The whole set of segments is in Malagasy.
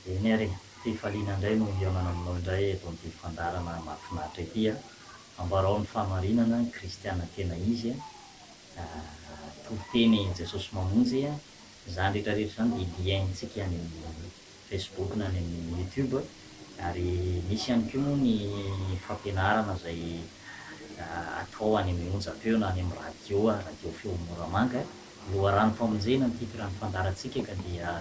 Eny ary e! Fifaliana indray no hihaonana aminao indray eto amin'ity fandaharana mahafinaritra ity a! Ambarao ny fahamarinana ny kristiana tena izy a! Toriteny Jesosy Mamonjy a! Izany rehetra rehetra izany dia hiaintsika any amin'ny Facebook na any amin'ny YouTube ary misy ihany koa moa ny fampianarana izay atao any amin'ny onjam-peo na any amin'ny radio a! Radio Feo Moramanga. Loharanom-pamonjena ny titran'ny fandaharantsika ka dia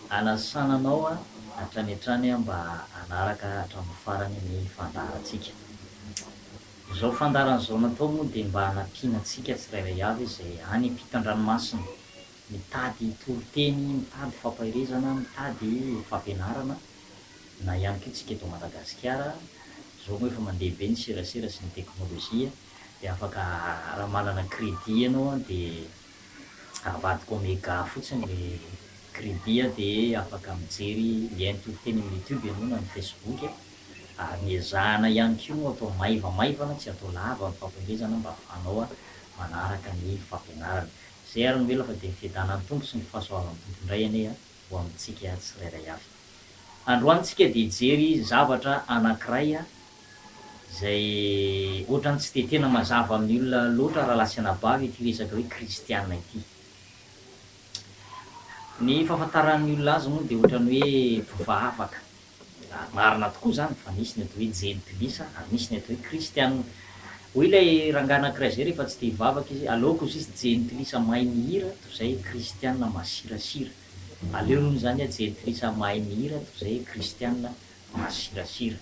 Anasana anao hatrany hatrany mba hanaraka hatramin'ny farany ny fandaharantsika. Izao fandaharana izao natao moa dia mba hanampiana antsika tsirairay avy izay any ampitan-dranomasina mitady toriteny, mitady fampaherezana, mitady fampianarana na ihany koa tsika eto Madagasikara. Izao moa efa mandeha be ny serasera sy ny teknolojia dia afaka raha manana crédit ianao dia avadika Omega fotsiny ny credit a dia afaka mijery lien toy teny amin'ny youtube ianao na ny facebook a, ary ny ezahana ihany koa no atao maivamaivana tsy atao lava ny fampielezana mba afahanao manaraka ny fampianarana. Izay ary no ela fa dia ny fiadanan'ny Tompo sy ny fahasoavan'ny Tompo indray anie ho amintsika tsirairay avy. Androany tsika dia hijery zavatra anankiray izay ohatrany tsy dia tena mazava amin'ny olona loatra rahalahy sy anabavy ity resaka hoe kristiana ity. Ny fahafantaran'ny olona azy moa dia ohatrany hoe mpivavaka, ary marina tokoa izany fa misy ny atao hoe jentilisa ary misy ny atao hoe kristiana. Hoy ilay rangahy anankiray izay rehefa tsy te hivavaka izy, aleoko izy izy jentilisa mahay mihira toy izay kristiana masirasira. Aleony hoy izany aho jentilisa mahay mihira toy izay kristiana Masirasira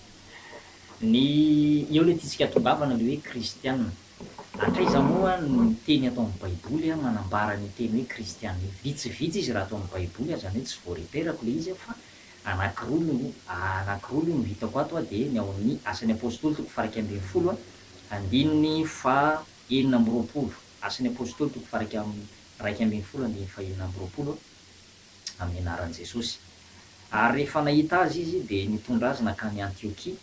ny eo le tiantsika tongavana le hoe kristiana. Hatraiza moa ny teny ato amin'ny baiboly a manambara an'io teny hoe kristiana io. Vitsivitsy izy raha ato amin'ny baiboly a, zany hoe tsy voareperako le izy a fa anankiroa no anankiroa aloha no hitako ato a de ny ao amin'ny asan'ny apostoly toko faharaika ambin'ny folo a andininy faha enina amby roapolo, asan'ny apostoly toko faharaika raika ambin'ny folo andininy faha enina amby roapolo a. amin'ny anaran'i Jesosy. Ary rehefa nahita azy izy dia nitondra azy nankany Antiokia,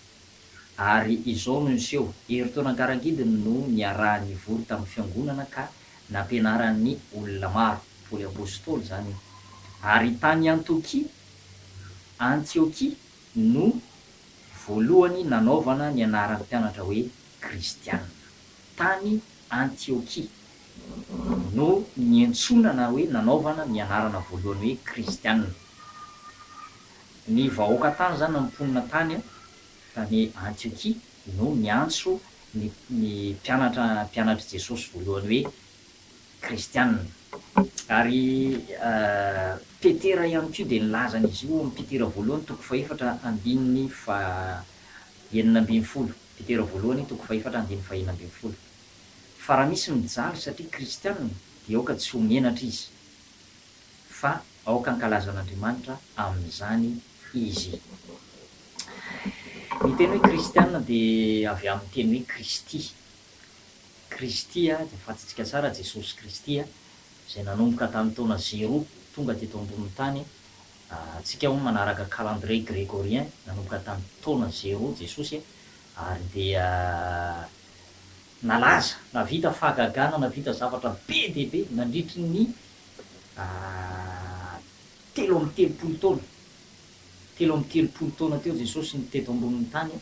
ary izao no niseho, herintaona an-karangidiny no niaraha nivory tamin'ny fiangonana ka nampianarany olona maro, Paoly Apostoly izany io, ary tany Antokia, Antiokia, no voalohany nanaovana ny anaram-pianatra hoe Kristianina, tany Antiokia. no niantsoana na hoe nanaovana ny anarana voalohany hoe Kristiana. Ny vahoaka tany izany na ny mponina tany tany Antiokia no niantso ny ny mpianatra mpianatr'i Jesosy voalohany hoe Kristiana. Ary Petera ihany koa dia nilaza an'izy io ao amin'ny Petera voalohany toko fahefatra andininy faha enina ambin'ny folo. Petera voalohany toko fahefatra andininy faha enina ambin'ny folo. Fa raha misy mijaly satria kristianina dia aoka tsy ho menatra izy fa aoka hankalaza an'Andriamanitra amin'izany izy. Ny teny hoe kristianina dia avy amin'ny teny hoe Kristy. Kristy, izay fantatsika tsara, Jesosy Kristy, izay nanomboka tamin'ny taona zero tonga teto ambonin'ny tany. Antsika hono manaraka calendrier gregorien, nanomboka tamin'ny taona zero Jesosy ary dia. nalaza, navita fahagagana, navita zavatra be dia be nandritry ny telo amby telopolo taona. Telo amby telopolo taona teo Jesosy no teto ambonin'ny tany,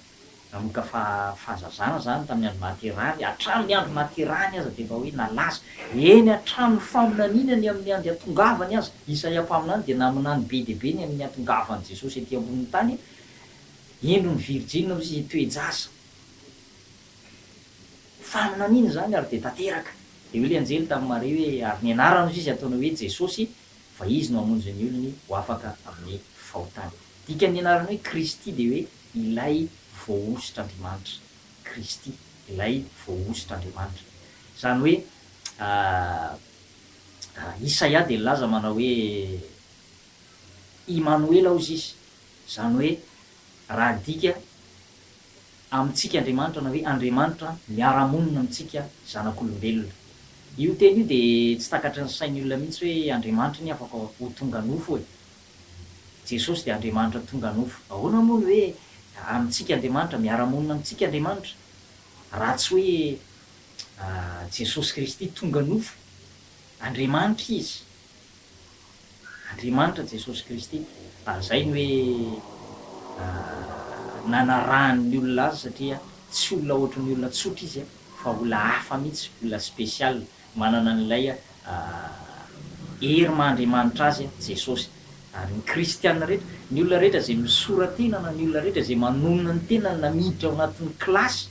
nanomboka fahazazana izany, tamin'ny andro nahaterahany, hatramin'ny andro nahaterahany aza dia efa hoe nalaza. Eny hatramin'ny faminaniana ny amin'ny andry hatongavany aza, Isaia mpaminany dia naminany be dia be ny amin'ny hatongavan'i Jesosy ety ambonin'ny tany, Hendry ny virjinina hoy izy, toe-jaza. Fa nanino izany ary dia tanteraka? Dia hoy ilay anjely tamin'i Maria hoe, Ary ny anarany hozy izy ataonao hoe Jesosy, fa izy no hamonjy ny olony ho afaka amin'ny fahotany. Dikan'ny anarany hoe Kristy dia hoe Ilay Voahosotr'Andriamanitra. Kristy, Ilay Voahosotr'Andriamanitra. Izany hoe, Isaia dia nilaza manao hoe, Imanoela hozy izy, izany hoe, raha adika, amintsika Andriamanitra na hoe Andriamanitra miara-monina amintsika zanak'olombelona. Io teny io dia tsy takatry ny sain'ny olona mihitsy hoe Andriamanitra anie afaka ho tonga nofo e! Jesosy dia Andriamanitra tonga nofo. Ahoana moa ny hoe amintsika Andriamanitra, miara-monina amintsika Andriamanitra, raha tsy hoe Jesosy Kristy tonga nofo? Andriamanitra Izy. Andriamanitra Jesosy Kristy. Ary izay ny hoe nanarahany ny olona azy satria tsy olona ohatry ny olona tsotra izy fa olona hafa mihitsy, olona special, manana an'ilay hery maha Andriamanitra azy Jesosy. Ary ny kristiana rehetra, ny olona rehetra izay misora-tena na ny olona rehetra izay manonona ny tenany na miditra ao anatin'ny kilasy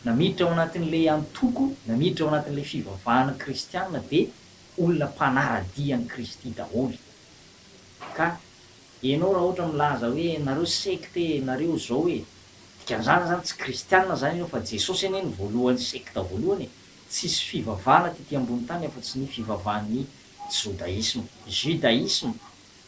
na miditra ao anatin'ilay antoko na miditra ao anatin'ilay fivavahana kristiana dia olona mpanara-dia an'i Kristy daholo. Ka enao raha ohatra milaza hoe nareo secte e, nareo zao e, dikan'izany zany tsy kristiana zany enao fa Jesosy anie no voalohan'ny secte voalohany e, tsisy fivavahana tety ambony tany afa-tsy ny fivavahan'ny jodaisme, judaisme,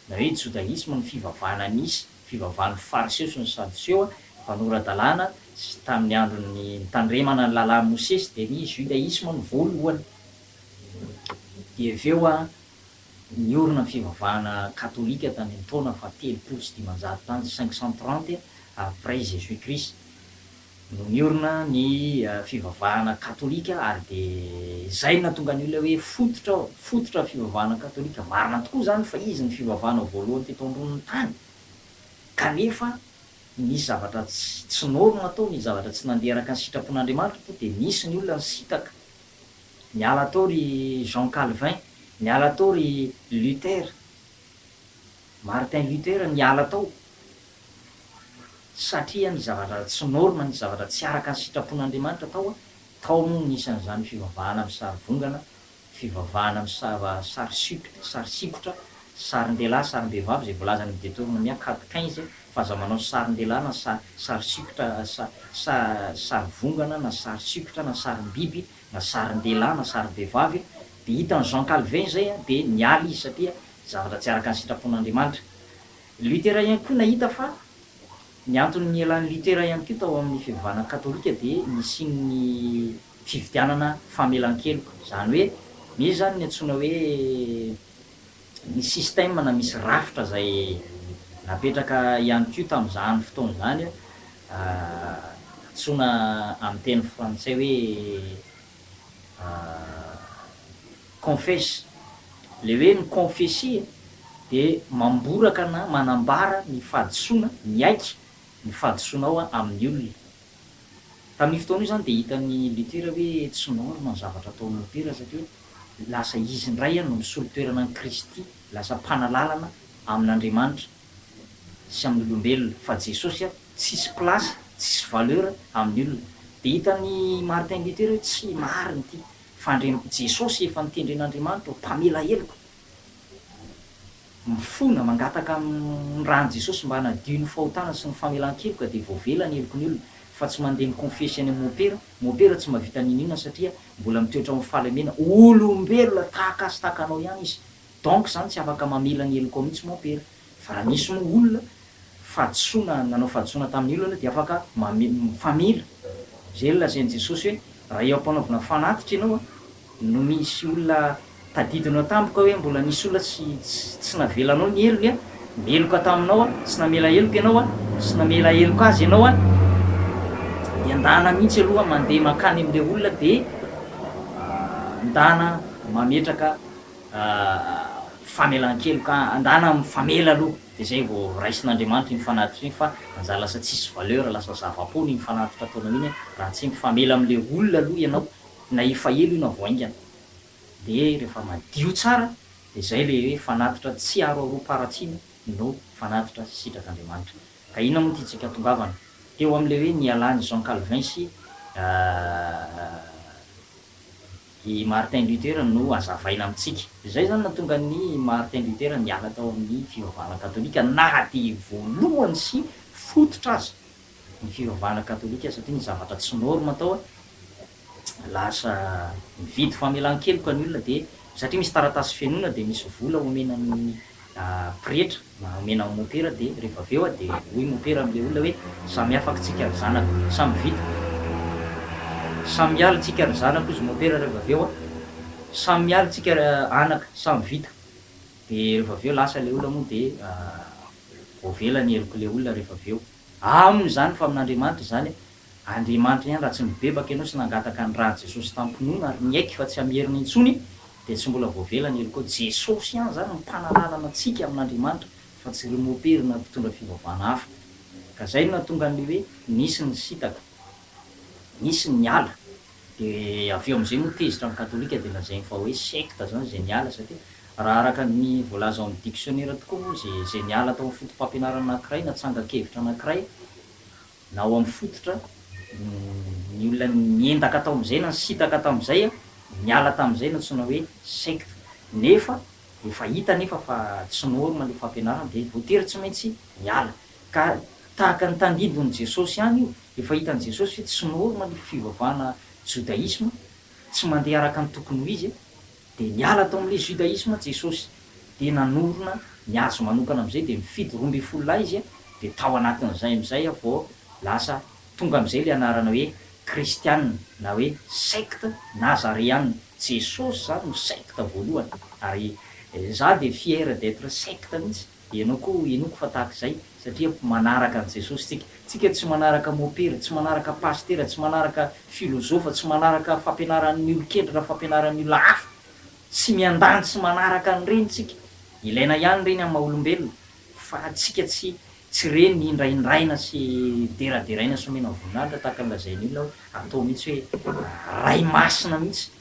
na hoe jodaisme ny fivavahana nisy, fivavahan'ny fariseo sy ny sadoseo a, mpanora-dalàna, sy tamin'ny andron'ny nitandremana ny lalàn'i Mosesy dia ny judaisme no voalohany. Dia avy eo an, niorina ny fivavahana katolika tany amin'ny taona faha telopolo sy dimanjato tany, 530 après Jésus Christ no niorina ny fivavahana katolika ary dia izay no nahatonga an'io ilay hoe fototra, fototra ny fivavahana katolika. Marina tokoa izany fa izy no fivavahana voalohany teto ambonin'ny tany kanefa nisy zavatra tsy norma tao, nisy zavatra tsy nandeha araka ny sitrapon'Andriamanitra tao dia nisy ny olona nisintaka Miala tao ry Jean Calvin, miala tao ry Luther, Martin Luther niala tao satria ny zavatra tsy norme, ny zavatra tsy araka ny sitrapon'Andriamanitra tao, tao moa ny isan'izany fivavahana misarivongana, fivavahana misava sary sikotra, sarin-dehilahy, sarim-behivavy izay voalazan'i Detornomia, Cad. Quinze. fa aza manao sarin-dehilahy na sa sary sikotra sa sa sary vongana na sary sikotra na sarim-biby na sarin-dehilahy na sarim-behivavy e! dia hitan'i Jean Calvin izay an dia niala izy satria zavatra tsy araka ny sitrapon'Andriamanitra. Luther ihany koa nahita fa ny antony nielan'i Luther ihany koa tao amin'ny fivavahana katolika dia nisian'ny fividianana famelan-keloka, izany hoe misy izany ny antsoina hoe, Nisy système na misy rafitra izay napetraka ihany koa tamin'izany fotoana izany, antsoina amin'ny teny frantsay hoe confesse. Ilay hoe mi-confesser dia mamboraka na manambara ny fahadisoana, miaiky ny fahadisoanao amin'ny olona. Tamin'io fotoana io izany dia hitan'i Luther hoe tsy norme ny zavatra ataon'i Luther satria lasa izy indray no nisolo toerana an'i Kristy lasa mpanalalana amin'Andriamanitra sy amin'ny olombelona fa Jesosy tsisy place tsisy valeur amin'ny olona dia hitan'i Martin Luther hoe tsy marina ity fa Andriamanitra Jesosy efa notendren'Andriamanitra ho mpamela heloka mifona mangataka amin'ny ran'i Jesosy mba hanadio ny fahotana sy ny famelan-keloka dia voavela ny heloky ny olona fa tsy mandeha mikonfesy any amin'ny mopera Mopera tsy mahavita n'inon'inona satria mbola mitoetra ao amin'ny fahalemena, olombelona tahaka azy tahaka anao ihany izy donc izany tsy afaka mamela ny helokao mihitsy mopera fa raha misy moa olona fahadisoana nanao fahadisoana tamin'ny olona dia afaka mamela izay lazain'i Jesosy hoe raha eo am-panaovana fanatitra ianao no misy olona tadidinao tampoka hoe mbola nisy olona tsy tsy navelanao ny heriny a meloka taminao a tsy namela heloka ianao a tsy namela heloka azy ianao a dia ndana mihitsy aloha mandeha mankany amin'ilay olona dia ndana mametraka famelan-keloka ndana mifamela aloha dia izay vao raisin'Andriamanitra iny fanatitra iny fa anjaha lasa tsisy valeur lasa zava-poana iny fanatitra ataonao iny raha tsy mifamela amin'ilay olona aloha ianao na efa ela io na vao haingana dia rehefa madio tsara dia izay ilay hoe fanatitra tsy aroaroam-paharatsiana no fanatitra sitrak'Andriamanitra. Ka inona moa ity tsy ankatongavana teo amin'ilay hoe nialàn'i Jean Calvin sy i Martin Luther no hazavaina amintsika. Izay izany no nahatonga an'i Martin Luther niala tao amin'ny fivavahana katolika na dia voalohany sy fototra aza ny fiovana katolika satria ny zavatra tsy norme tao lasa mividy famelankeloka ny olona dia satria misy taratasy fenoina dia misy vola omena ny pretra na omena ny mopera dia rehefa avy eo dia hoy mopera amin'ilay olona hoe samy afak tsika ry zanako samy vita samy miala tsika ry zanako hozy mopera rehefa avy eo samy miala tsika ry anaka samy vita dia rehefa avy eo lasa ilay olona moa dia voavela ny helok'ilay olona rehefa avy eo. Aminy izany fa amin'Andriamanitra izany e. Andriamanitra ihany raha tsy nibebaka ianao sy nangataka ny ran'i Jesosy tamim-pinoana ary niaiky fa tsy hamerina intsony dia tsy mbola voavela ny heloka. Jesosy ihany izany no mpanalalana antsika amin'Andriamanitra fa tsy ry mopera na mpitondra fivavahana hafa. Ka izay no nahatonga an'ilay hoe nisy ny nisintaka. Nisy ny niala. Dia avy eo amin'izay moa tezitra ny katolika dia lazainy fa hoe sekta izany izay niala satria raha araka ny voalaza ao amin'ny diksionera tokoa moa izay izay niala tao amin'ny fotopampianarana anankiray na tsangan-kevitra anankiray na ao amin'ny fototra ny olona niendaka tao amin'izay na nisintaka tamin'izay niala tamin'izay no antsoina hoe sekta nefa efa hita anefa fa tsy norma ilay fampianarana dia voatery tsy maintsy miala Ka tahaka ny tandindon'i Jesosy ihany io, efa hitan'i Jesosy hoe tsy normal io fivavahana jodaisma, tsy mandeha araka ny tokony ho izy, dia niala tao amin'ilay judaisma Jesosy, dia nanorina ny azy manokana amin'izay, dia nifidy roa ambin'ny folo lahy izy, dia tao anatin'izay amin'izay vao lasa tonga amin'izay ilay anarana hoe kristiana na hoe secte nazareana, Jesosy izany no secte voalohany, ary izaho dia fier d'etre secte mihitsy. Ianao koa henoiko fa tahaka izay satria manaraka an'i Jesosy tsika. Tsika tsy manaraka mopera, tsy manaraka pasitera, tsy manaraka filozofa, tsy manaraka fampianaran'ny olon-kendry na fampianaran'ny olona hafa. Tsy miandany tsy manaraka an'ireny tsika. Ilaina ihany ireny amin'ny maha-olombelona fa tsika tsy tsy ireny indraindraina sy deraderaina sy omena voninahitra tahaka ny lazain'ny olona hoe atao mihitsy hoe Ray masina mihitsy.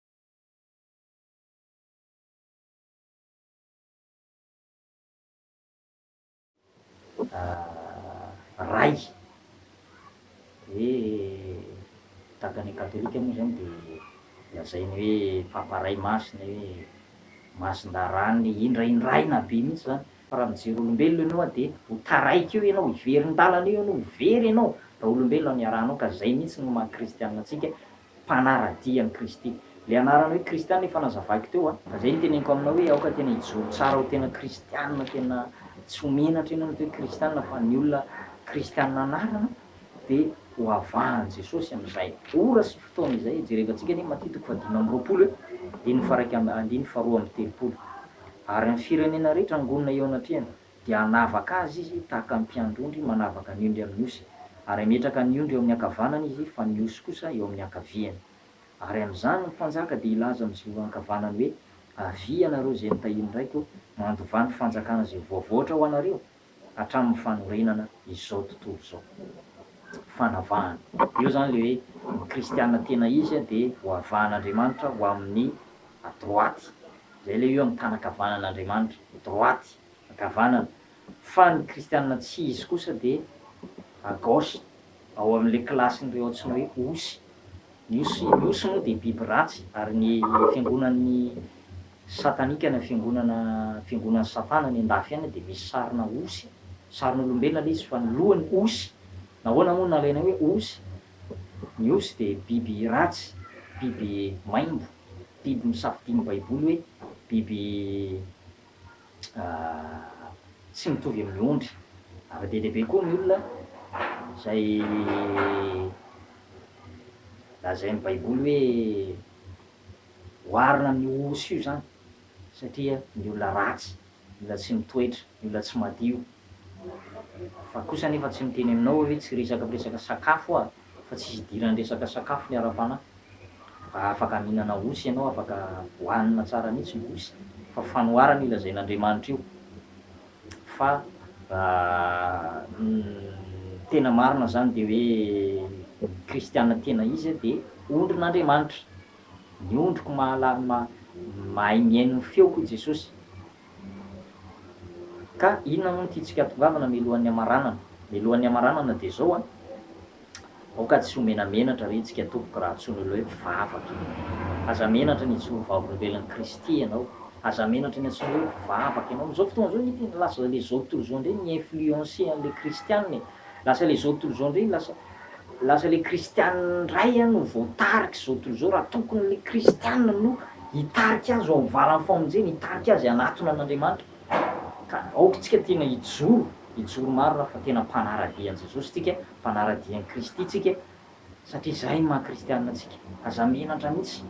Ray, hoe tahaka ny katolika moa izany dia lazainy hoe Papa Ray Masina hoe Masindaharany indra indraina be mihitsy izany fa raha mijery olombelona ianao a dia ho taraiky eo ianao, hiverin-dalana eo ianao, ho very ianao raha olombelona no iarahanao ka izay mihitsy no maha kristianina antsika mpanara-dia an'i Kristy. Ilay anarana hoe Kristiana efa nazavaiko teo a. Izay no teneniko aminao hoe aoka tena hijoro tsara ho tena Kristiana tena tsy ho menatra ianao mety hoe Kristiana fa ny olona Kristiana anarana dia ho avahan'i Jesosy amin'izay ora sy fotoana izay. Jerevantsika anie Matia toko fahadimy amby roapolo e, andininy faha iraika amby andininy faharoa amby telopolo. Ary ny firenena rehetra angonina eo anatrehany. Dia hanavaka azy izy tahaka ny mpiandry-ondry manavaka ny ondry amin'ny osy, ary hametraka ny ondry eo amin'ny ankavanany izy, fa ny osy kosa eo amin'ny ankaviany. Ary amin'izany ny mpanjaka dia hilaza amin'ny izay eo ankavanany hoe, Avia ianareo izay notahian'ny raiko, mandovà ny fanjakana izay voavoatra ho anareo, hatramin'ny fanorenana izao tontolo izao. Fanavahana. Dia eo izany ilay hoe ny kristiana tena izy dia voavahan'Andriamanitra ho amin'ny droite. Izay ilay eo amin'ny tàna ankavanan'Andriamanitra, droite, ankavanana, fa ny kristiana tsy izy kosa dia à gauche, ao amin'ilay kilasin'ireo antsoina hoe osy. Ny osy, ny osy moa dia biby ratsy, ary ny fiangonan'ny satanika na fiangonana, fiangonan'i Satana any an-dafy any dia misy sarina osy, sarin'olombelona ilay izy fa ny lohany osy. Nahoana moa no nalaina hoe osy? Ny osy dia biby ratsy, biby maimbo. Biby nosafidian'ny Baiboly hoe biby tsy mitovy amin'ny ondry. Zava-dehibe be koa ny olona izay lazain'ny Baiboly hoe oharina amin'io osy io izany, satria ny olona ratsy. ny olona tsy mitoetra, ny olona tsy madio. Fa kosa anefa tsy miteny aminao aho hoe tsy resaka miresaka sakafo aho fa tsisy idiran'ny resaka sakafo ny ara-panahy. Mba afaka mihinana osy ianao, afaka hohanina tsara mihitsy ny osy fa fanoharana io lazain'Andriamanitra io. Fa ny tena marina izany dia hoe ny kristiana tena izy dia ondrin'Andriamanitra. Ny ondriko mahalal mahay mihaino ny feoko hoy Jesosy. Ka inona moa ny tiantsika atongavana mialohan'ny hamaranana? Mialohan'ny hamaranana dia izao an, aoka tsy ho menamenatra re tsika tompoko raha antsoin'ny olona hoe mpivavaka e! Aza menatra ny hijoro vavolombelon'i Kristy ianao, aza menatra ny antsoina hoe mpivavaka ianao. Amin'izao fotoana izao nge tena lasa ilay izao tontolo izao indray mi-influencer an'ilay kristiana e! Lasa ilay izao tontolo izao indray lasa Lasa le kristianina ndray an no voatarika zao tontolo zao raha tokony le kristianina no hitarika azy ao am valan famonjena hitarika azy hanatona an'Andriamanitra ka aoka tsika tena hijoro hijoro marina fa tena mpanaradia an'i Jesosy tsika mpanaradia an'i Kristy tsika satria zay ny maha kristianina antsika aza menatra mitsy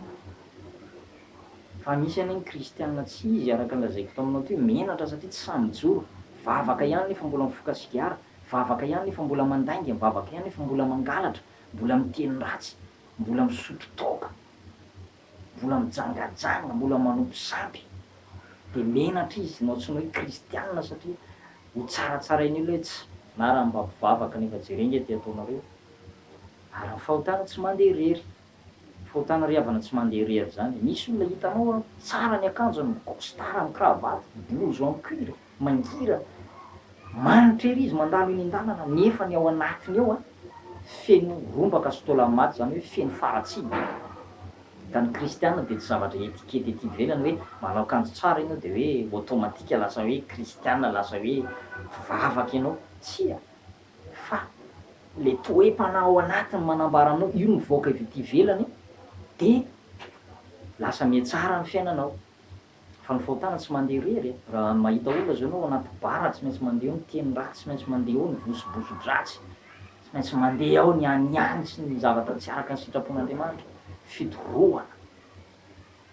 fa misy anie ny kristianina tsy izy araka ny lazaiko taminao teo menatra satria tsy sahy mijoro vavaka ihany nefa mbola mifoka sigara Vavaka ihany nefa mbola mandainga, mivavaka ihany nefa mbola mangalatra, mbola miteny ratsy, mbola misotro toaka, mbola mijangajanga, mbola manompo sampy. Dia menatra izy nao tsy ny hoe kristianina satria ho tsaratsarain'ny olona hoe tsy na raha mba mpivavaka nefa jereo nge ty ataonareo. Ary ny fahotana tsy mandeha irery. Fahotana ry havana tsy mandeha irery zany e! Misy olona hitanao an, tsara ny akanjony, mi-costard am cravate, blouson am cuir, mangirana, manitra ery izy mandalo eny an-dalana nefa ny ao anatiny ao an, feno rombaka sy taola maty, zany hoe feno faratsiana. Ka ny kristiana dia tsy zavatra etikety ety ivelany hoe manao akanjo tsara ianao dia hoe automatique lasa hoe kristiana, lasa hoe mpivavaka ianao. Tsia! Fa le toe-panahy ao anatiny manambara anao io mivoaka avy ety ivelany de lasa mihatsara ny fiainanao. Fa ny fahotana tsy mandeha irery e! Raha mahita olona zao enao anaty bar tsy maintsy mandeha ao ny teny ratsy, tsy maintsy mandeha ao ny vosoboso-dratsy, tsy maintsy mandeha ao ny anihany sy ny zavatra tsy araka ny sitrapon'Andriamanitra, fidorohana.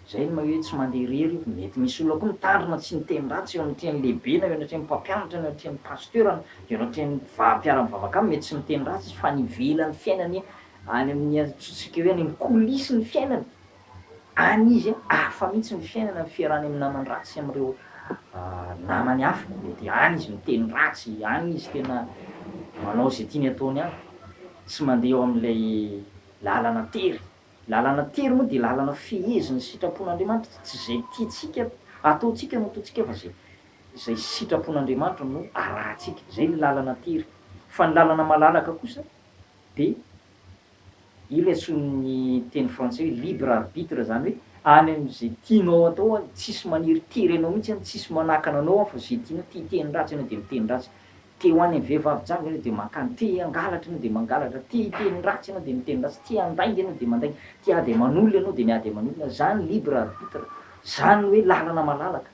Izay no maha hoe tsy mandeha irery io. Mety misy olona koa mitandrina tsy niteny ratsy eo anatrehan'ny lehibe na eo anatrehan'ny mpampianatra na eo anatrehan'ny pasteur na eo anatrehan'ny mpiva- mpiara-mivavaka aminy mety tsy miteny ratsy izy fa any ivelan'ny fiainany any amin'ny antsointsika hoe any amin'ny coulisses ny fiainany any izy hafa mihitsy ny fiainany amin'ny fiarahany amin'ny namany ratsy sy amin'ireo namany hafa mety any izy miteny ratsy any izy tena manao izay tiany ataony any tsy mandeha eo amin'ilay lalana tery Lalana tery moa dia lalana fehezin'ny sitrapon'Andriamanitra, tsy izay tiantsika ataontsika no ataontsika fa izay izay sitrapon'Andriamanitra no arahantsika, izay ny lalana tery, fa ny lalana malalaka kosa dia io ilay antsoin'ny teny frantsay hoe libre arbitre izany hoe any amin'izay tianao atao any, tsisy maniry tery anao mihitsy any, tsisy manakana anao any fa izay tianao, tia hiteny ratsy ianao dia miteny ratsy, Te ho any amin'ny vehivavy jamba ianao dia mankany, te hangalatra ianao dia mangalatra, te hiteny ratsy ianao dia miteny ratsy, te handainga ianao dia mandainga, te hiady aman'olona ianao dia miady aman'olona, izany libre arbitre, izany hoe lalana malalaka,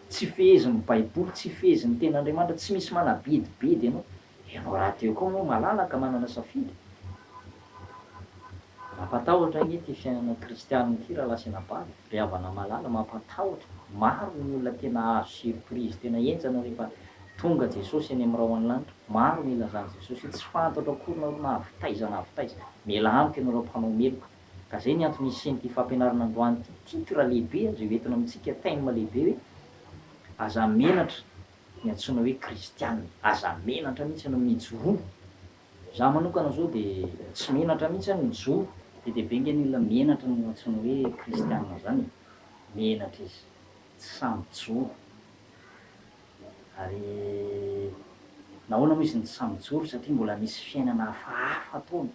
tsy fehezin'ny baiboly, tsy fehezin'ny tenin'Andriamanitra, tsy misy manabedibedy anao, ianao rahateo koa moa malalaka manana safidy. Mampatahotra ange ity fiainana kristianina ity Ralasy Anabavy, ry havana malala, mampatahotra, maro ny olona tena azo surprise tena henjana rehefa Tonga Jesosy eny amin'irao any lanitra, maro ny ilazan'i Jesosy hoe tsy fantatro akory nareo na avy taiza na avy taiza, mialà amiko ianareo mpanao meloka. Ka zay ny antony hisian'ity fampianarana androany ity, titre lehibe aza io entina amintsika, thème lehibe hoe, aza menatra ny antsoina hoe kristianina, aza menatra mihitsy ianao mijoroa Za manokana zao de tsy menatra mihitsy any ny zo be dia be nge ny olona menatra no antsoiny hoe kristianina zany e! menatra izy tsy samy joro ary nahoana moa izy no tsy samy joro satria mbola misy fiainana hafahafa tony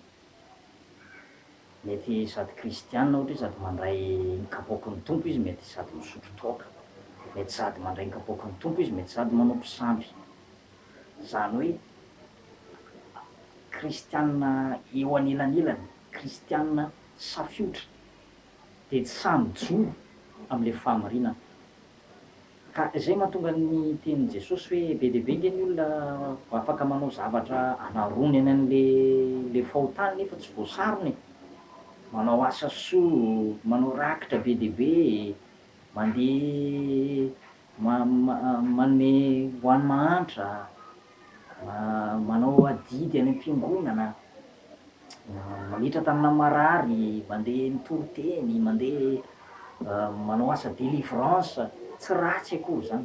mety sady kristianina ohatra hoe sady mandray ny kapoaky ny tompo izy mety sady misotro toaka mety sady mandray ny kapoaky ny tompo izy mety sady manao mpisamby Izany hoe kristiana eo anelanelany, kristiana safiotra, dia tsy sahy mijoro amin'ilay fahamarinana. Ka izay mahatonga ny tenin'i Jesosy hoe be dia be ange ny olona afaka manao zavatra hanaronany an'ilay fahotany nefa tsy voasarona e! Manao asa soa, manao rakitra be dia be e! Mandeha manome ho an'ny mahantra, manao adidy any am-piangonana, mametra-tanana amin'ny marary, mandeha mitory teny, mandeha manao asa délivrance, tsy ratsy akory izany,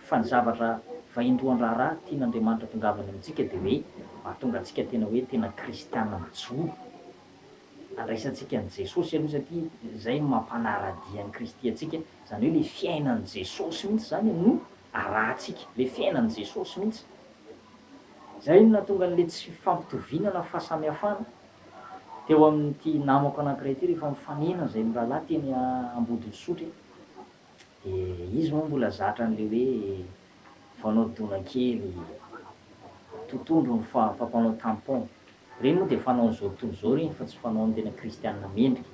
fa ny zavatra vaindohan-draharaha tian'Andriamanitra atongavany amintsika dia hoe mahatonga antsika tena hoe tena kristiana mijoro. Andraisantsika an'i Jesosy aloha satria izay no mampanara-dia an'i Kristy antsika, izany hoe ilay fiainan'i Jesosy mihitsy izany no arahantsika, ilay fiainan'i Jesosy mihitsy. Izay no nahatonga an'ilay tsy fifampitoviana na fahasamihafana teo amin'ity namako anankiray ity rehefa mifanena izay mirahalahy teny Ambodin'Isotry dia izy moa mbola zatra an'ilay hoe vao anao dona kely totondro ny fa fa mpanao tampon. Ireny moa dia fanaon'izao tontolo izao ireny fa tsy fanaon'ny tena kristiana mendrika.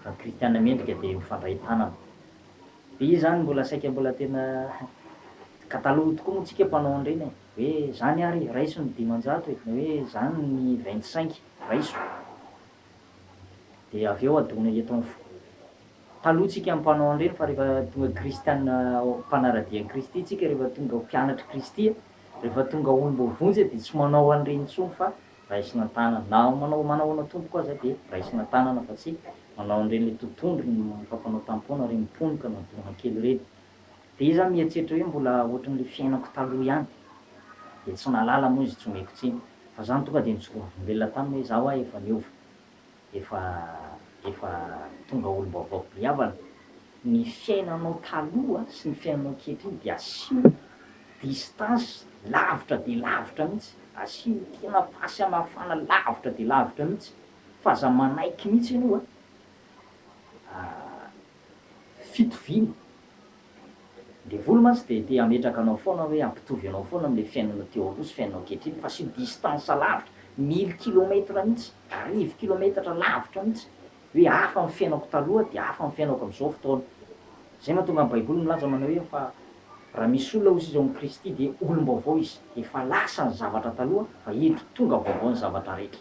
Fa ny kristiana mendrika dia mifandray tanana. Dia izany mbola saika mbola tena ka taloha tokoa moa tsika mpanao an'ireny e! hoe izany ary raiso ny dimanjato e! na hoe izany ny vingt cinq raiso dia avy eo adona eto amin'ny foko. Taloha tsika mpanao an'ireny fa rehefa tonga kristiana mpanara-dia an'i Kristy tsika rehefa tonga ho mpianatr'i Kristy Rehefa tonga olom-boa vonjy dia tsy manao an'ireny intsony fa raisina an-tanana. Na manao manao anao tompoko aza dia raisina an-tanana fa tsy manao an'ireny ilay totohondry ny fampanao tampon ary mimponoka na dorana kely ireny. Dia izaho mieritreritra hoe mbola ohatran'ilay fiainako taloha ihany. Dia tsy nahalala moa izy tsy omeko tsiny. Fa izany tonga dia nijoroa volombelona taminy hoe izaho aho efa niova. Efa efa tonga olom-baovao be havana. Ny fiainanao taloha sy ny fiainanao ankehitriny dia asio distance lavitra dia lavitra mihitsy, asio tena fahasamihafana lavitra dia lavitra mihitsy fa aza manaiky mihitsy ianao a, fitoviana. Devoly mantsy dia te hametraka anao foana hoe hampitovy anao foana amin'ilay fiainanao teo aloha sy fiainanao ankehitriny fa sur distance lavitra, mille kilomètres mihitsy, arivo kilometatra lavitra mihitsy, hoe hafa ny fiainako taloha dia hafa ny fiainako amin'izao fotoana. Izay mahatonga ny Baiboly milaza manao hoe fa raha misy olona hoy izy ao amin'i Kristy dia olom-baovao izy, efa lasa ny zavatra taloha fa eto tonga vaovao ny zavatra rehetra.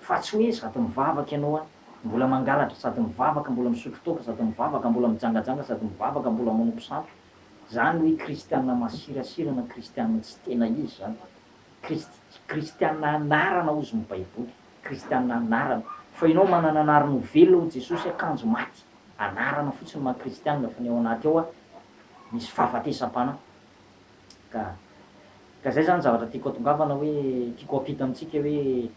Fa tsy hoe sady mivavaka ianao a, mbola mangalatra, sady mivavaka, mbola misotro toaka, sady mivavaka, mbola mijangajanga, sady mivavaka, mbola manompo sampy. Zany hoe kristiana masirasira na kristiana tsy tena izy zany. Krist, kristiana anarana ozy ny baiboly, kristiana anarana. Fa ianao manana anarana ho velona hoy Jesosy a, kanjo maty. Anarana fotsiny maha kristiana fa ny ao anaty ao a, misy fahafatesam-panahy. Ka ka zay zany zavatra tiako atongavana hoe tiako ampita amintsika hoe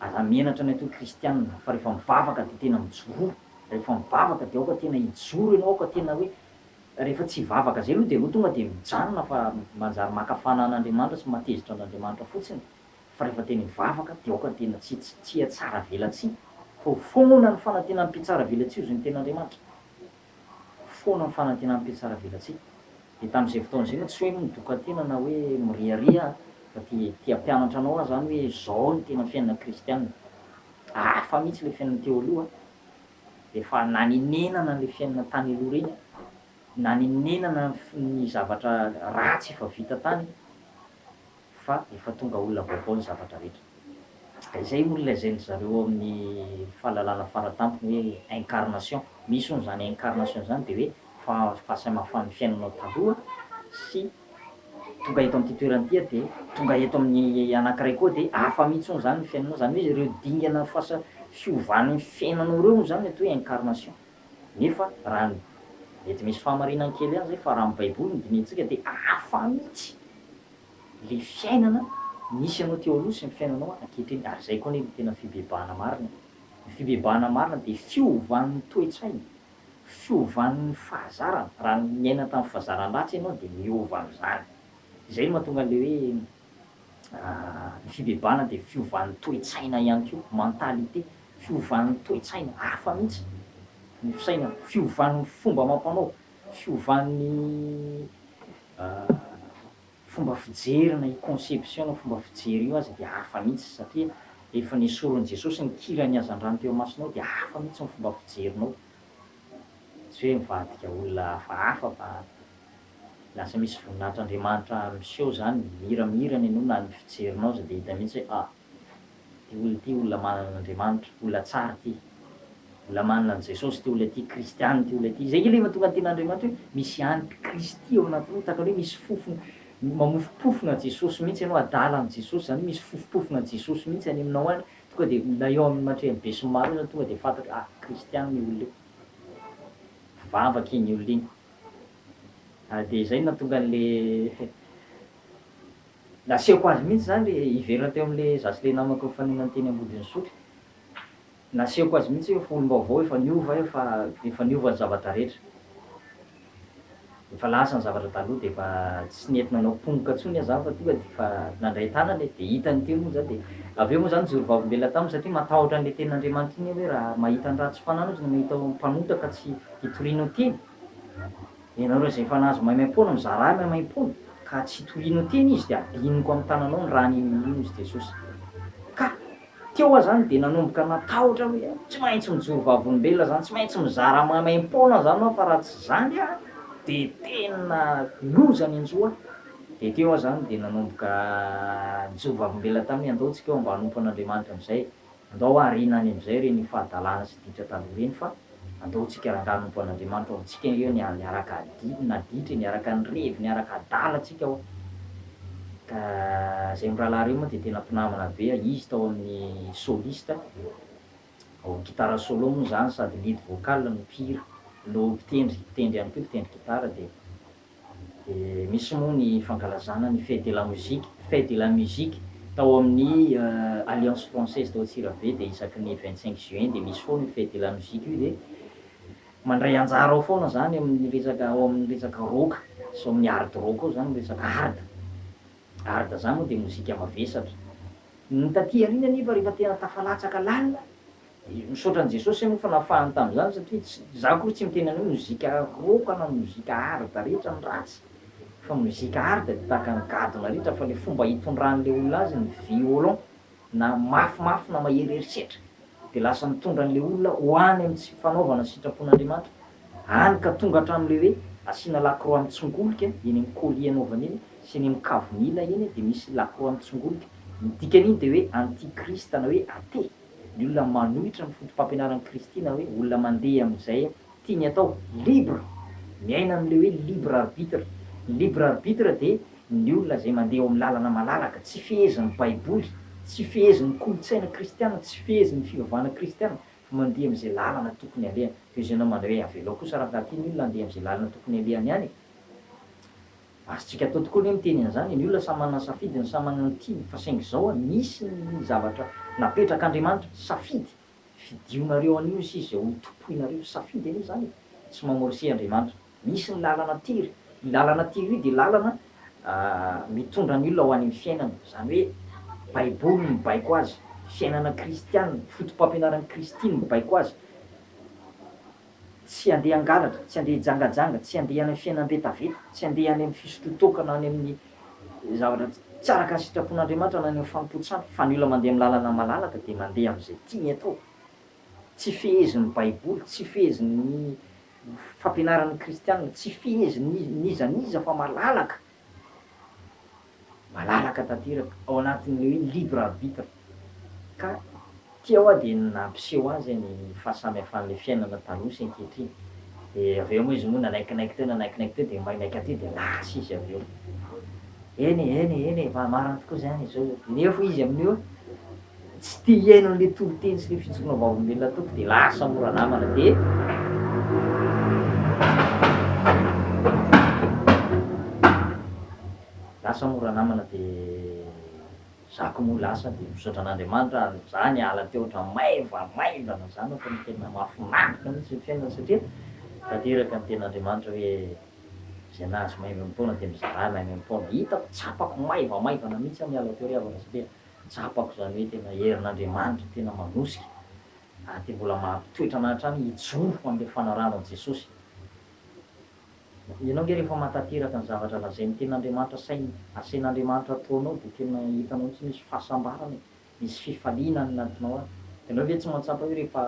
aza menatra ny atao kristianina fa rehefa mivavaka de tena mijoroa rehefa mivavaka de aoka tena hijoro ianao aoka tena hoe rehefa tsy hivavaka zay aloha de aloha tonga de mijanona fa manjary maka fanan'Andriamanitra sy mahatezitra an'Andriamanitra fotsiny fa rehefa tena hivavaka de aoka tena tsy tsy tsy hihatsara velatsihy fa ho foana ny fanantenan'ny mpitsara velatsihy ho zon'ny ten'Andriamanitra. foana ny fanantenan'ny mpiatsaravelatsihy. Dia tamin'izay fotoana izay no tsy hoe midokan-tena na hoe miriaria aho fa dia te hampianatra anao aho izany hoe izao no tena fiainana kristiana. Hafa mihitsy ilay fiainana teo aloha an! Dia efa nanenenana an'ilay fiainana tany aloha ireny aho. Nanenenana ny zavatra ratsy efa vita tany. fa efa tonga olona vaovao ny zavatra rehetra. Izay olona izay ny zareo ao amin'ny fahalalana faratampony hoe incarnation, misy hono izany incarnation izany dia hoe fahasamafan'ny fiainanao taloha sy tonga eto amin'ity toerana ity aho dia tonga eto amin'ny anankiray koa dia hafa mihitsy hono izany ny fiainanao, izany hoe ireo dingana fahasa fiovan'ny fiainanao ireo hono izany ny atao hoe incarnation. Nefa raha ny, mety misy fahamarinany kely ihany izay fa raha ny baiboly no dinihintsika dia hafa mihitsy. le fiainana misy anao teo aloha sy ny fiainanao ankehitriny ary zay koa anie no tena fibebahana marina e! ny fibebahana marina de fiovan'ny toe-tsaina, fiovan'ny fahazarana, raha niaina tamin'ny fazaran ratsy ianao de miova am'zany, zay no mahatonga an'le hoe ny fibebahana de fiovan'ny toe-tsaina ihany koa, mentalité, fiovan'ny toe-tsaina, hafa mihitsy ny fisainana, fiovan'ny fomba amam-panao, fiovan'ny fomba fijery na io conception na fomba fijery io aza dia hafa mihitsy satria rehefa nesorin'i Jesosy ny kiran'ny hazandrano teo imasonao dia hafa mihitsy ny fomba fijerinao, tsy hoe mivadika olona hafahafa fa lasa misy voninahitr'Andriamanitra miseho izany, mira mira ny anao na ny fijerinao aza dia hita mihitsy hoe ah! Ty olona ity olona manana an'Andriamanitra, olona tsara ity, olona manana an'i Jesosy ity olona ity, kristiana ity olona ity, izay nge le mahatonga ny tenin'Andriamanitra hoe misy any mpikristy ao anatinao, tahaka ny hoe misy fofona, mamofompofona Jesosy mihitsy ianao, adala an'i Jesosy izany hoe misy fofompofona Jesosy mihitsy any aminao any, tonga dia na eo amin'ny matrehan'ny besinimaro io izany tonga dia fantatra hoe ah, kristiana io olona io, mpivavaka iny olona iny, ary dia izay no nahatonga an'le Nasehoko azy mihitsy izany re hiverina teo amin'le za sy le namako nifaninana teny Ambodin'Isotry. Nasehoko azy mihitsy hoe efa olom-baovao, efa niova aho, efa efa niova ny zavatra rehetra. Efa lasa ny zavatra taloha dia efa tsy nety nanao pongoka intsony aho zany fa tonga dia efa nandray tanana e, dia hitany teo moa zany dia avy eo moa zany nijoro vavolombelona taminy satria matahotra an'le tenin'Andriamanitra iny aho hoe raha mahita ny ratsy fanahy mihitsy no mahita mpanota ka tsy hitoriana ho tiany. Ianareo izay efa nahazo maimaim-poana, mizarahy maimaim-poana, ka tsy tohinao teny izy, dia adinoko amin'ny tananao ny raha ninoanao Izy, Jesosy. Ka, teo aho izany, dia nanomboka natahotra hoe, Tsy maintsy mijoro vavolombelona izany, tsy maintsy mizara maimaim-poana izany aho, fa raha tsy izany aho, dia tena loza any an-jo aho. Dia teo aho izany, dia nanomboka nijoro vavolombelona taminy, Andao tsika ho mba hanompo an'Andriamanitra amin'izay e. Andao aoriana any amin'izay ireny fahadalana sy ditra taloha ireny fa andao tsika rangahy nompoan'Andriamanitra ao amintsika eo ny niaraka adi na ditra e, niaraka nirevy, niaraka adala tsika ao. Ka zay mirahalahy reo moa dia tena mpinamana be a, izy tao amin'ny soliste ao amin'ny guitare solo moa izany sady lead vocal no mpihira no mpitendry, mpitendry ihany koa, mpitendry guitare dia. dia misy moa ny fankalazana ny fête de la musique, fête de la musique, tao amin'ny Alliance française tao Antsirabe dia isaky ny vingt cinq juin dia misy foana io fête de la musique io dia mandray anjara ao foana izany amin'ny resaka ao amin'ny resaka rock sy ao amin'ny hard rock ao izany resaka hard, hard izany moa dia mozika mavesatra, ny taty aoriana anefa rehefa tena tafalatsaka lalina, Misaotra an'i Jesosy anie fa nafahany tamin'izany satria tsy, za akory tsy miteny an'io mozika rock na mozika hard rehetra ny ratsy fa mozika hard de tahaka ny gadona rehetra fa le fomba itondran'le olona azy ny violon na mafimafy na mahery herisetra de lasa mitondra an'le olona ho any amin'ny tsy fanaovana sitrapon'Andriamanitra any ka tonga hatramin'le hoe asiana lakroa mitsongolika eny amin'ny colis anaovany eny sy eny amin'ny kavimila eny de misy lakroa mitsongolika ny dikan'iny de hoe anti-krist na hoe athée. Ny olona manohitra ny fotopampianaran'i Kristy na hoe olona mandeha amin'izay tiany atao, libre, miaina amin'ilay hoe libre arbitre. Ny libre arbitre dia ny olona izay mandeha eo amin'ny lalana malalaka, tsy fehezin'ny Baiboly, tsy fehezin'ny kolontsaina kristiana, tsy fehezin'ny fivavahana kristiana, fa mandeha amin'izay lalana tokony halehany. Toy izay ianao manao hoe avelao kosa raha tian'ny olona handeha amin'izay lalana tokony halehany ihany e! Azontsika atao tokoa anie miteny an'izany e, ny olona samy manana ny safidiny, samy manana ny tiany, fa saingy izao an, misy ny zavatra napetrak'Andriamanitra, safidy, fidionareo anio ny sisa izay ho tompoinareo, safidy anie izany e, tsy mamorse Andriamanitra, misy ny lalana tery, io lalana tery io dia lalana mitondra ny olona ho any amin'ny fiainana, izany hoe baiboly no mibaiko azy, fiainana kristiana, fotopampianaran'i Kristy no mibaiko azy, Tsy handeha hangalatra, tsy handeha hijangajanga, tsy handeha any amin'ny fiainana vetaveta, tsy handeha any amin'ny fisotroan-toaka na any amin'ny zavatra tsy araka ny sitrapon'Andriamanitra na any amin'ny fanompoan-tsampy, fa ny olona mandeha amin'ny lalana malalaka dia mandeha amin'izay tiany atao. Tsy fehezin'ny Baiboly, tsy fehezin'ny fampianaran'ny Kristianina, tsy fehezin'iza n'iza fa malalaka malalaka tanteraka ao anatin'ilay hoe libre arbitre ka ity ao aho dia nampiseho azy ny fahasamihafan'ilay fiainana taloha sy ankehitriny dia avy eo moa izy moa nanaikinaiky teo nanaikinaiky teo dia maimaiky aty dia lasa izy avy eo eny e eny e eny e fa marina tokoa izany izao nefa izy amin'io Tsy te hihaino an'le toriteny sy le fijoroana vavolombelona ataoko de lasa mora namana de lasa mora namana de zako moa lasa de misaotra an'Andriamanitra ary za niala teo ohatran'ny maivamaivana zany ohatran'ny tena mahafinaritra mintsy ny fiainana satria tanteraka ny tenin'Andriamanitra hoe zay nahazo maimboimpoana de mizarà maimboimpoana, hitako tsapako maivamaivana mintsy aho niala teo ry havana satria Tsapako izany hoe tena herin'Andriamanitra tena manosika ary dia mbola mampitoetra anà hatrany hijoro ho an'ilay fanarahanao an'i Jesosy. Ianao ange rehefa mahatanteraka ny zavatra lazain'ny Tenin'Andriamanitra sain'ny asain'Andriamanitra ataonao dia tena hitanao mihitsy misy fahasambarana e, misy fifaliana any anatinao any. Ianao ve tsy mahatsapa hoe rehefa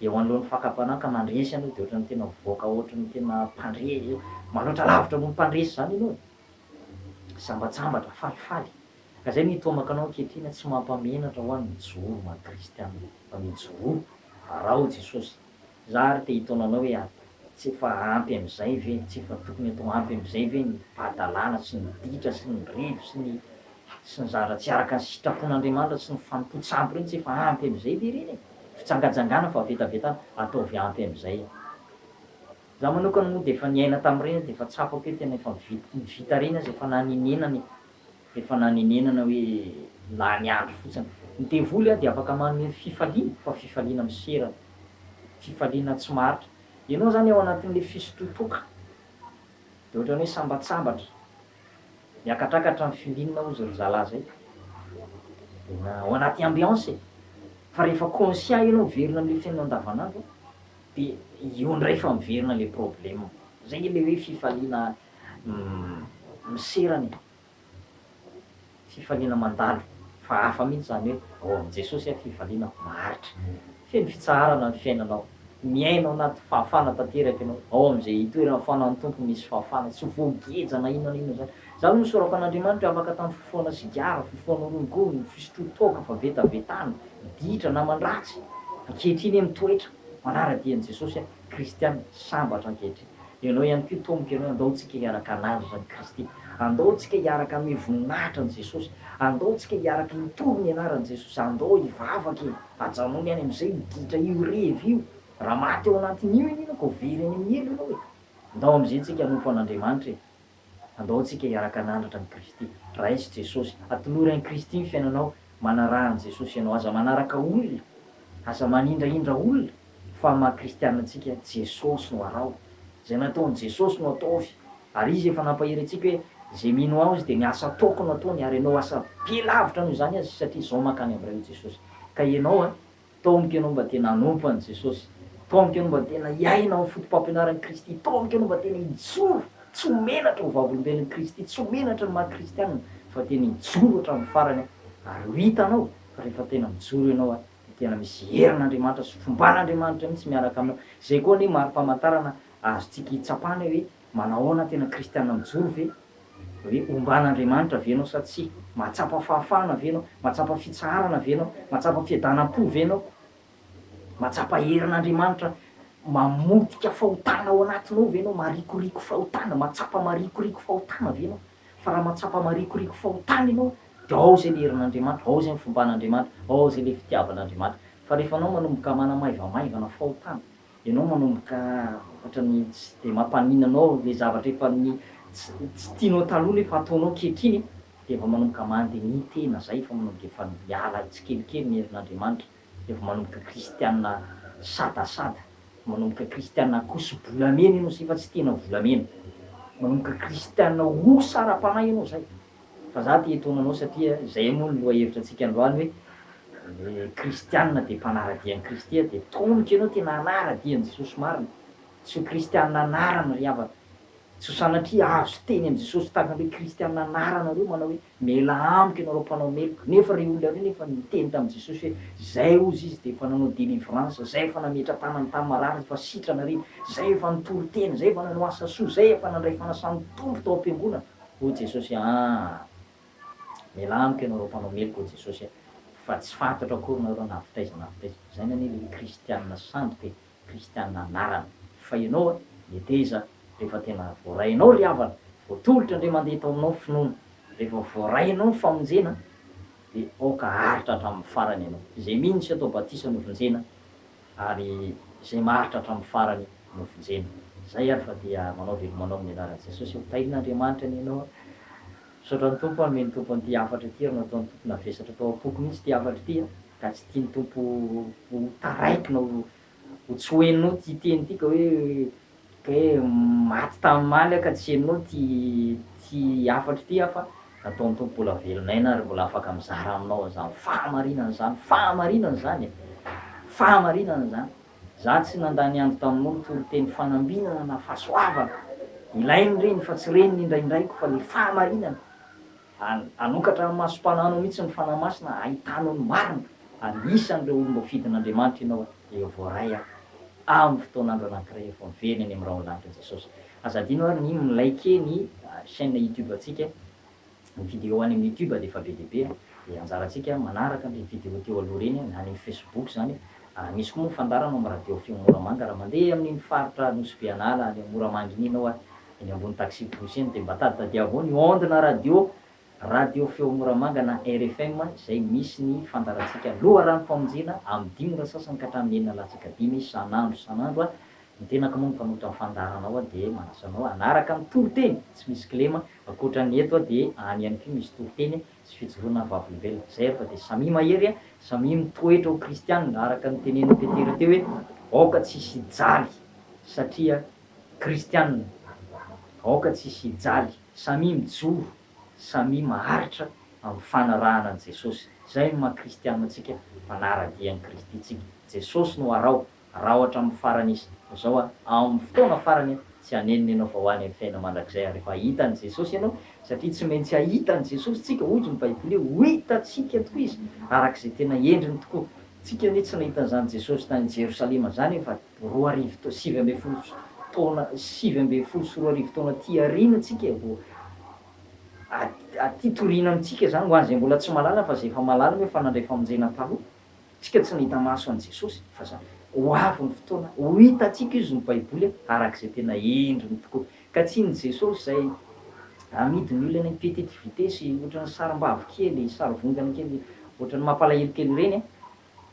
eo anoloan'ny fakam-panahy ka mandresy ianao dia ohatran'ny tena mivoaka ohatran'ny tena mpandre, manoatra lavitra noho ny mpandresy izany ianao e. Sambatsambatra, falifaly. Ka zay ny tomaka anao ankehitriny tsy mampamenatra hoa mijoro ma kristiana fa mijoroa fa araho jesosy za ary te hitaona anao hoe ary tsy efa ampy amizay ve tsy efa tokony atao ampy amizay ve ny fahadalana sy ny ditra sy ny revy sy ny sy ny zavatra tsy araka ny sitrapon'Andriamanitra sy ny fanompoan-tsampy reny tsy efa ampy amizay ve reny e fijangajangana fa vetavetana ataovy ampy amizay e za manokana moa dia efa niaina tamreny aho dia efa tsapako hoe tena efa vita reny aza efa nanenenana e. Efa nanenenana hoe lany andro fotsiny. Ny devoly dia afaka manome fifaliana fa fifaliana miserana. Fifaliana tsy maritra. Ianao izany ao anatin'ilay fisotrotoka dia ohatran'ny hoe sambatsambatra. Miakatrakatra ny filinina hozy ry zalahy izay. Tena ao anaty ambiance e. Fa rehefa conscient ianao miverina amin'ilay fiainana andavanandro dia eo indray fa miverina ilay problème. Izay ilay hoe fifaliana Umm misera ny fifaliana mandalo fa hafa mihitsy izany hoe ao amin'i Jesosy an fifaliana maharitra. Feno fitsaharana ny fiainanao. Miaina ao anaty fahafana tanteraka ianao. Ao amin'izay itoeran'ny fanan'ny Tompo misy fahafana. Tsy voageja na inona na inona izany. Izany no nisorako an'Andriamanitra afaka tamin'ny fifohana sigara, fifohana rongony, fisotroa toaka, fa vetavetana, ditra, naman-dratsy. Ankehitriny aho mitoetra manara-dia an'i Jesosy an. Kristiana sambatra ankehitriny. Ianao ihany koa toa miteny hoe andao tsika hiaraka hanandratra an'i Kristy. Andao tsika hiaraka hanome voninahitra an'i Jesosy. Andao tsika hiaraka hitory ny anaran'i Jesosy. Andao hivavaka e! Ajanony any amin'izay io ditra io revy io. Raha maty ao anatin'io ianao ka ho very any amin'ny helo ianao e! Andao amin'izay tsika hanompo an'Andriamanitra e! Andao antsika hiaraka hanandratra an'i Kristy. Raiso Jesosy. Atolory an'i Kristy ny fiainanao. Manaraha an'i Jesosy ianao. Aza manaraka olona. Aza manindrahindra olona. Fa amin'ny maha Kristianina antsika, Jesosy no araho. Izay nataon'i Jesosy no ataovy. Ary Izy efa nampahery antsika hoe, Izay mino Aho Izy dia ny asa ataoko no ataony. Ary ianao asa be lavitra noho izany aza satria izao mankany amin'Ray hoy Jesosy. Ka ianao an! Taomiko ianao mba tena hanompo an'i Jesosy. Taomiko ianao mba tena hiaina amin'ny fotopampianaran'i Kristy. Taomiko ianao mba tena hijoro tsy ho menatra ho vavolombelon'i Kristy, tsy ho menatra ny maha kristiana, fa tena hijoro hatramin'ny farany ary ho hitanao fa rehefa tena mijoro ianao dia tena misy herin'Andriamanitra sy fomban'Andriamanitra mihitsy miaraka aminao. Izay koa anie mari-pamantarana azontsika hitsapana hoe Manahoana, tena kristiana mijoro ve? Hoe omban'Andriamanitra ve ianao sa tsia? Mahatsapa fahafahana ve ianao? Mahatsapa fitsaharana ve ianao? Mahatsapa fiadanam-po ve ianao? Mahatsapa herin'Andriamanitra mamotika fahotana ao anatinao ve ianao? Marikoriko fahotana, mahatsapa marikoriko fahotana ve ianao? Fa raha mahatsapa marikoriko fahotana ianao, dia ao izay ilay herin'Andriamanitra, ao izay ny fomban'Andriamanitra, ao izay ilay fitiavan'Andriamanitra. Fa rehefa ianao manomboka manamaivamaivana fahotana, Ianao manomboka ohatrany tsy dia mampaninona anao ilay zavatra efa ny tsy tianao taloha nefa ataonao ankehitriny dia vao manomboka mande ny tena izay efa manomboka efa miala tsikelikely ny herin'Andriamanitra dia vao manomboka kristiana sadasada manomboka kristiana akoso bolamena ianao izay fa tsy tena volamena manomboka kristiana osa ara-panahy ianao izay Fa za te hitaona anao satria zay moa ny loha hevitra antsika androany hoe le kristianina de mpanaradia an'i kristy a de tonoky ianao tena hanaradia an'i jesosy marina tsy ho kristianina anarana ry havana tsy ho sanatria azo teny amin'i jesosy tahaka ny hoe kristianina anarana reo manao hoe miala amiko ianareo mpanao meloka nefa reo olona reo nefa niteny tamin'i jesosy hoe zay hozy izy de efa nanao delivrance zay efa nametra tanany tamin'ny marary zay efa sitrana re zay efa nitory tena zay efa nanao asa soa zay efa nandray fanasan'ny tompo tao am-piangonana O Jesosy aa aa Mialà amiko ianao reo mpanao meloka o Jesosy a! Fa tsy fantatro akory nareo na avy taiza na avy taiza fa izany anie le hoe kristianina sandoka e! Kristianina anarana! Fa ianao a! Meteza rehefa tena voarainao ry havana, voatolotra ndray mandeha tao aminao ny finoana, rehefa voarainao ny famonjena dia aoka aharitra hatramin'ny farany ianao! Izay mino sy atao batisa no vonjena ary izay maharitra hatramin'ny farany no vonjena. Izay ary fa dia manao dia manao amin'ny anaran'i Jesosy aho. Tahian'Andriamanitra anie ianao a! Misaotra an'i Tompo a, mino Tompo an'ity hafatra ity ary nataon'i Tompo navesatra tao am-poko mihitsy ity hafatra ity a, ka tsy tian'i Tompo ho taraiky na ho ho tsy ho henonao ity teny ity ka hoe Hoe maty tamin'ny maly aho ka tsy henoa ity ity hafatro ity aho fa nataon'ny Tompo mbola velona aina aho ary mbola afaka mizara aminao an'izany fahamarinana izany, fahamarinana izany e! fahamarinana izany! Izaho tsy nandany andro tamin'olo toriteny fanambinana na fahasoavana, ilain'ny reny fa tsy reny ny indraindraiko fa le fahamarinana! An, hanokatra amin'ny masom-pananao mihitsy ny Fanahy Masina hahitanao ny marina. Anisan'ireo olom-boafidin'Andriamanitra ianao an, dia voaray an, amin'ny fotoan'andro anankiray efa ho very any amin'ny rahon'ny lanitra Jesosy. Aza adino ary ny mi-liker ny chaîne YouTube antsika, ny video any amin'ny YouTube dia efa be dia be an, dia anjarantsika manaraka an'ireny video teo aloha ireny an, na any amin'ny Facebook izany an, misy koa moa ny fandaharana ao amin'ny radio feo Moramanga, raha mandeha amin'iny faritra Nosy-Beanala any Moramanga iny ianao an, Eny ambony taxi pousse eny dia mba taditadiavo ny onde na radio, radio feo moramanga na RFM, izay misy ny fandaharantsika loharanom-pamonjena amin'ny dimy ora sasany ka hatramin'ny enina latsaka dimy isan'andro isan'andro. Ny tenako moa no mpanoto amin'ny fandaharana ao dia manasa anao hanaraka ny toriteny tsy misy kilema, ankoatra ny eto dia any ihany koa misy toriteny sy fijoroana vavolombelona. Izay ary fa dia samia mahery, samia mitoetra ho kristianina araka ny tenenin'i Petera teo hoe aoka tsy hisy hijaly satria Kristianina, aoka tsy hisy hijaly, samia mijoro, samia maharitra amin'ny fanarahana an'i Jesosy. Izay no maha Kristianina antsika, mpanara-dia an'i Kristy tsika. Jesosy no araho, araho hatramin'ny farany Izy. Izao aho, amin'ny fotoana farany aho, tsy hanenina ianao fa ho any amin'ny fiainana mandrakizay aho rehefa hahita an'i Jesosy ianao, satria tsy maintsy hahita an'i Jesosy tsika, hoy ny Baiboly, ho hitantsika tokoa Izy, araka izay tena endriny tokoa. Tsika anie tsy nahita an'izany Jesosy tany Jerosalema izany io fa. roa arivo ta-, sivy ambin'ny folo sy taona sivy ambin'ny folo sy roa arivo taona aty aoriana tsika vao a-, aty toriana amintsika izany ho an'izay mbola tsy mahalala fa izay efa mahalala moa efa nandray famonjena taloha, tsika tsy nahita maso an'i Jesosy fa izany ho avy ny fotoana ho hitantsika Izy ny Baiboly a, araka izay tena endriny tokoa ka tsy ny Jesosy izay amidy ny olona eny petite vitesse ohatran'ny sarim-bavy kely, sarivongana kely ohatran'ny mampalahelo kely ireny a,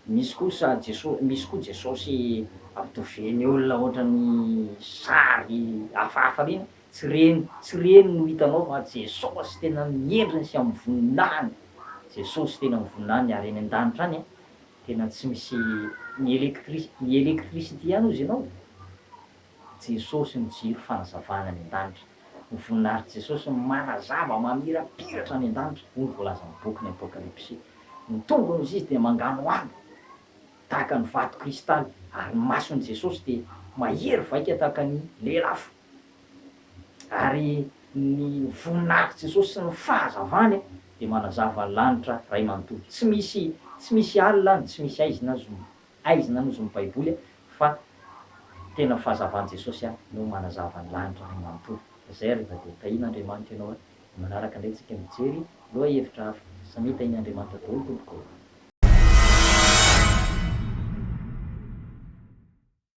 Misy kosa Jesosy, misy koa Jesosy ampitoviany olona ohatran'ny sary hafahafa reny, tsy reny, tsy reny no hitanao fa Jesosy tena amin'ny endriny sy amin'ny voninahiny, Jesosy tena amin'ny voninahiny ary any an-danitra any tena tsy misy ny electri, ny electricity ihany ozy ianao Jesosy no jiro fanazavana any an-danitra. Ny voninahitry Jesosy no manazava mamirapiratra any an-danitra, hoy ny voalazan'ny bokin'ny Apokalypsy. Ny tongony izy dia manganohano tahaka ny vato kristaly, ary ny mason'i Jesosy dia mahery vaika tahaka ny lelafo. Ary ny voninahitr'i Jesosy sy ny fahazavany dia manazava ny lanitra iray manontolo. Tsy misy, tsy misy alina no tsy misy haizina, zoma. Aiza nanozon'ny baiboly fa tena fahazavan'i Jesosy no manazava ny lanitra ray manontolo. Zay re Dago, tahin' Andriamanitra ianao a! Ny manaraka indray tsika mijery loha hevitra hafa. Samia tahin' Andriamanitra daholo tompoko ô!